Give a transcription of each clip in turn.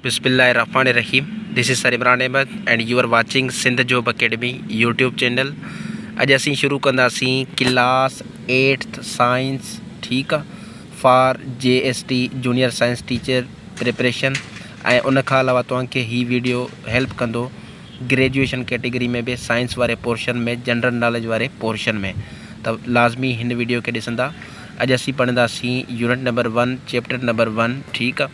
بسم الله الرحمٰن الرحيم this is sir Imran Ahmed and you are watching Sindh job academy YouTube channel اڄ اسين شروع ڪنداسين ڪلاس ايٽٿ سائنس ٺيڪ آ for G S T junior science teacher preparation ۽ ان کان علاوه توهان کي هي ويڊيو هيلپ ڪندو گريجويشن ڪيٽيگري ۾ به سائنس واري پورشن ۾ جنرل ناليج واري پورشن ۾ ته لازمي هن ويڊيو کي ڏسندا اڄ اسين پڙهنداسين unit number one chapter number one ٺيڪ آ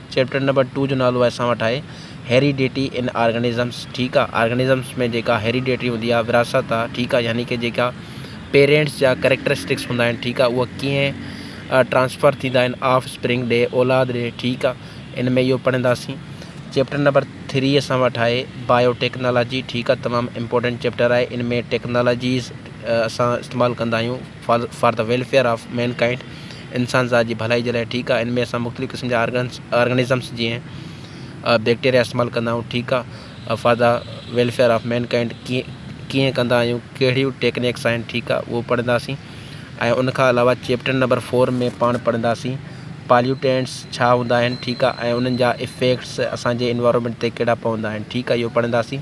چيپٽر نمبر ٽو جو نالو اسان وٽ آهي هيريڊيٽي ان آرگنزمز ٺيڪ آهي آرگنزمز ۾ جيڪا هيريڊيٽي هوندي آهي وراثت آهي ٺيڪ آهي يعني ڪي جيڪا پيرينٽس جا ڪريڪٽرسٽڪس هوندا آهن ٺيڪ آهي اهي ڪيئن ٽرانسفر ٿيندا آهن آف اسپرنگ ڏي اولاد ڏي ٺيڪ آهي ان ۾ اهو پڙهنداسين چيپٽر نمبر ٿري اسان وٽ آهي بايو ٽيڪنالاجي ٺيڪ آهي تمام امپورٽنٽ چيپٽر آهي ان ۾ ٽيڪنالاجيز اسان استعمال ڪندا آهيون for the welfare of mankind, انسان ذات جي ڀلائي جي لاء ٺيڪ آ، ان ۾ اسان مختلف قسم جا آرگنس آرگنزمس جيئن بيڪٽيريا استعمال ڪندا آهيون ٺيڪ آ، for the welfare of mankind ڪيئن ڪيئن ڪندا آهيون ڪهڙيون ٽيڪنيڪس آهن ٺيڪ آ اهو پڙهنداسين ۽ ان کان علاوه چيپٽر نمبر فور ۾ پاڻ پڙهنداسين پاليوٽينٽس ڇا هوندا آهن ٺيڪ آ ۽ انهن جا افيڪٽس اسان جي انوائرمينٽ تي ڪهڙا پوندا آهن ٺيڪ آ اهو پڙهنداسين.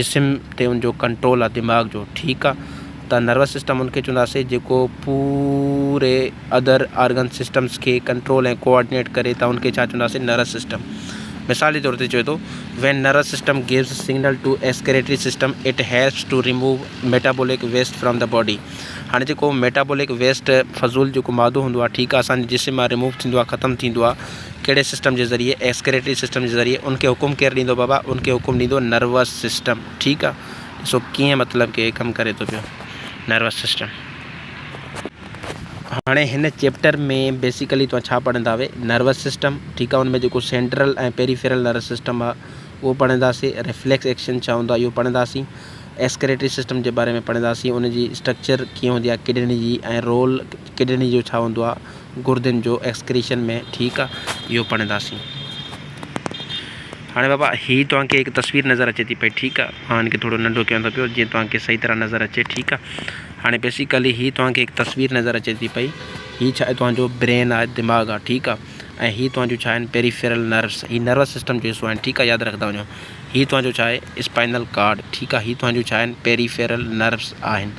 جسم تي ان جو ڪنٽرول آ دماغ جو ٺيڪ آ ته نروس سسٽم ان کي چونداسي جيڪو پوري ادر آرگن سسٽمس کي ڪنٽرول ۽ ڪوآرڊينيٽ ڪري ته ان کي ڇا چونداسي نروس سسٽم مثال جي طور تي چوي ٿو when nervous system gives signal to excretory system it helps to remove metabolic waste from the body هاڻي جيڪو ميٽابولڪ ويسٽ فضول جيڪو مادو هوندو آ ٺيڪ آ اسان جي جسم مان ريموو ٿيندو آ ختم ٿيندو آ ڪهڙي سسٽم جي ذريعي ايڪسڪريٽري سسٽم جي ذريعي ان کي حڪم ڪير ڏيندو بابا ان کي حڪم ڏيندو نروس سسٽم ٺيڪ آ ڏسو ڪيئن مطلب ڪي ڪم ڪري ٿو پيو نروس سسٽم هاڻي هن چيپٽر ۾ بيسيڪلي توهان ڇا پڙهنداوي نروس سسٽم ٺيڪ آهي ان ۾ جيڪو سينٽرل ۽ پيريفيرل نروس سسٽم آهي اهو پڙهنداسي ريفليڪس ايڪشن ڇا هوندو آهي اهو پڙهنداسي ايسڪريٽري سسٽم جي باري ۾ پڙهنداسي ان جي اسٽرڪچر ڪيئن هوندي آهي ڪڊني جي ۽ رول ڪڊني جو ڇا هوندو آهي؟ گردن جو ايڪسڪريشن ۾ ٺيڪ آ اهو پڙهنداسين. هاڻي بابا هي توهان کي هڪ تصوير نظر اچي ٿي پئي ٺيڪ آ مان هن کي ٿورو ننڍو ڪيان ٿو پيو جيئن توهان کي صحيح طرح نظر اچي ٺيڪ آ هاڻي بيسيڪلي هي توهان کي هڪ تصوير نظر اچي ٿي پئي هي ڇا توهان جو برين آهي دماغ آ ٺيڪ آ ۽ هي توهان جو ڇا آهن پيريفيرل نروس هي نروس سسٽم جو حصو آهن ٺيڪ آ ياد رکندا وڃو هي توهان جو ڇا آهي اسپائنل ڪارڊ ٺيڪ آ هي توهان جو ڇا آهن پيريفيرل نروس آهن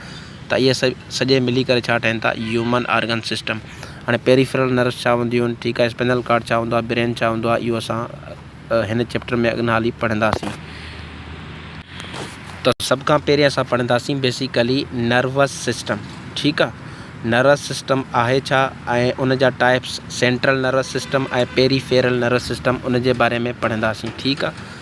ته اهي سڄي ملي ڪري ڇا ٺهن ٿا هيومن آرگن سسٽم هاڻي پيريفرل نروس ڇا هونديون آهن ٺيڪ آهي اسپنل ڪارڊ ڇا هوندو آهي برين ڇا هوندو آهي اهو اسان هن چيپٽر ۾ اڳن هالي پڙهنداسين ته سڀ کان پهرين اسان پڙهنداسين بيسيڪلي نروس سسٽم ٺيڪ آهي نروس سسٽم آهي ڇا ۽ ان جا types central nervous system ۽ peripheral nervous system ان جي باري ۾ پڙهنداسين ٺيڪ آهي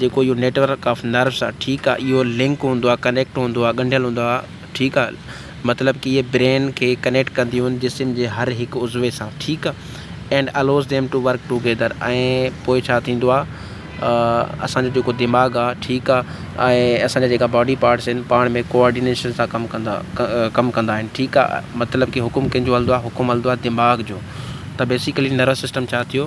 جيڪو اهو نيٽ ورڪ آف نروس آ ٺيڪ آ اهو لنڪ هوندو آ ڪنيڪٽ هوندو آ ڳنڍيل هوندو آ ٺيڪ آ مطلب ڪي اهي برين کي ڪنيڪٽ ڪنديون آهن جسم جي هر هڪ عضوي سان ٺيڪ آ and allows them to work together ۽ پوء ڇا ٿيندو آ اسان جو جيڪو دماغ آ ٺيڪ آ ۽ اسان جا جيڪا باڊي پارٽس آهن پاڻ ۾ ڪوآرڊينيشن سان ڪم ڪندا ڪم ڪندا آهن ٺيڪ آ مطلب ڪي حڪم ڪنهنجو هلدو آ حڪم هلدو آ دماغ جو ته بيسيڪلي نروس سسٽم ڇا ٿيو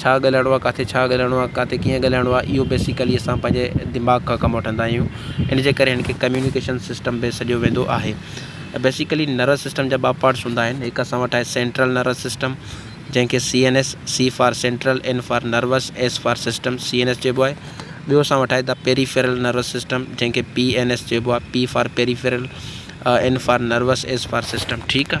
ڇا ڳالهائڻو آ، ڪاٿي ڇا ڳالهائڻو آ، ڪاٿي ڪيئن ڳالهائڻو آ، اهو بيسيڪلي اسان پنهنجي دماغ کان ڪم وٺندا آهيون. ان جي ڪري هن کي ڪميونيڪيشن سسٽم به سڏيو ويندو آهي. بيسيڪلي نروس سسٽم جا ٻه پارٽس هوندا آهن. هڪ اسان وٽ آهي سينٽرل نروس سسٽم جنهن کي C N S, C for central, N for nervous, S for system, C N S چئبو آهي. ٻيو اسان وٽ آهي دا پيريفيرل نروس سسٽم جنهن کي پي اين ايس چئبو آهي، P for peripheral, N for nervous, S for system. ٺيڪ آ.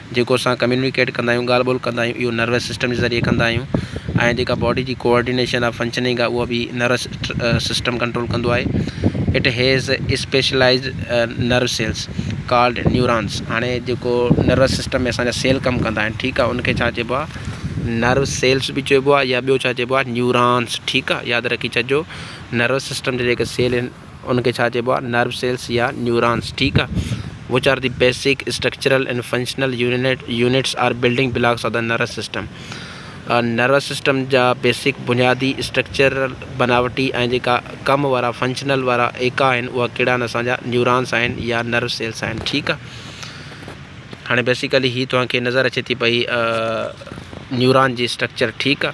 جيڪو اسان ڪميونيڪيٽ ڪندا آهيون ڳالهه ٻولهه ڪندا آهيون اهو نروس سسٽم جي ذريعي ڪندا آهيون ۽ جيڪا باڊي جي ڪوآرڊينيشن آف فنڪشننگ آهي اها به نروس سسٽم ڪنٽرول ڪندو آهي it has specialized nerve cells called neurons هاڻي جيڪو نروس سسٽم ۾ اسانجا سيل ڪم ڪندا آهن ٺيڪ آهي ان کي ڇا چئبو آهي نرو سيلس به چئبو آهي يا ٻيو ڇا چئبو آهي نيورانس ٺيڪ آهي ياد رکي ڇڏجو نروس سسٽم جي جيڪي سيل ان کي ڇا چئبو آهي نرو سيلس يا نيورانس ٺيڪ آهي which are the basic structural and functional unit units are building blocks of the nervous system nervous system جا بيسڪ بنيادي اسٽرڪچرل بناوٽي ۽ جيڪا ڪم وارا فنڪشنل وارا ايڪا آهن اها ڪهڙا آهن اسانجا نيورانس آهن يا نرو سيلس آهن ٺيڪ آهي هاڻي بيسيڪلي هي توهان کي نظر اچي ٿي پئي نيوران جي اسٽرڪچر ٺيڪ آهي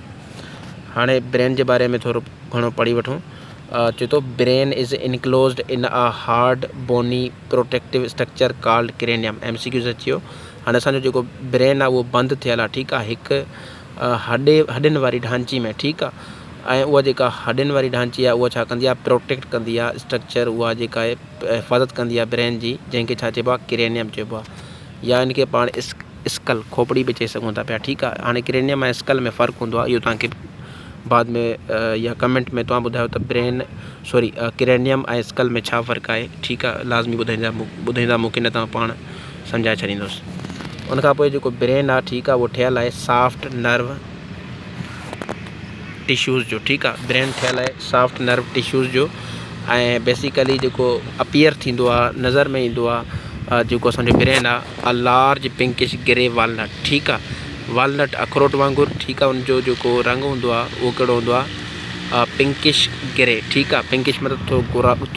هاڻي برين جي باري ۾ ٿورو گهڻو پڙهي وٺون چي ٿو brain is enclosed in a hard bony protective structure called cranium M C Qs اچيو هاڻي اسانجو جيڪو برين آ اهو بند ٿيل آ ٺيڪ آ هڪ هڏي هڏين واري ڍانچي ۾ ٺيڪ آ ۽ اها جيڪا هڏين واري ڍانچي آ اها ڇا ڪندي آ پروٽيڪٽ ڪندي آ اسٽرڪچر اها جيڪا حفاظت ڪندي آ برين جي جنهن کي ڇا چئبو آ ڪرينيم چئبو آ يا ان کي پاڻ اسڪل، کوپڙي، به چئي سگهون ٿا پيا ٺيڪ آ هاڻي ڪرينيم ۽ اسڪل ۾ فرق هوندو آ اهو توهان کي بعد ۾ يا ڪمينٽ ۾ توهان ٻڌايو ته برين سوري ڪرينيم ۽ اسڪل ۾ ڇا فرق آهي ٺيڪ آ لازمي ٻڌائيندا ٻڌائيندا مونکي نه ته پاڻ سمجهائي ڇڏيندوس ان کان پوء جيڪو برين آ ٺيڪ آ اهو ٺهيل آهي سافٽ نرو ٽشوز جو ٺيڪ آ برين ٺھيل آھي سافٽ نرو ٽشوز جو ۽ بيسيڪلي جيڪو اپيئر ٿيندو آ نظر ۾ ايندو آ جيڪو اسانجو برين آ ا لارج پنڪش گري والنٽ ٺيڪ آ والنٽ اخروٽ وانگر ٺيڪ آ ان جو جيڪو رنگ هوندو آ اهو ڪهڙو هوندو آ پنڪش گري ٺيڪ آ پنڪش مطلب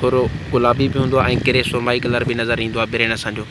ٿورو گلابي به هوندو آ ۽ گري سرمائي ڪلر به نظر ايندو آ برين اسانجو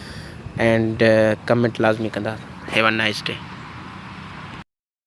اينڊ ڪمينٽ لازمي ڪندا هيو اي نائس ڊي.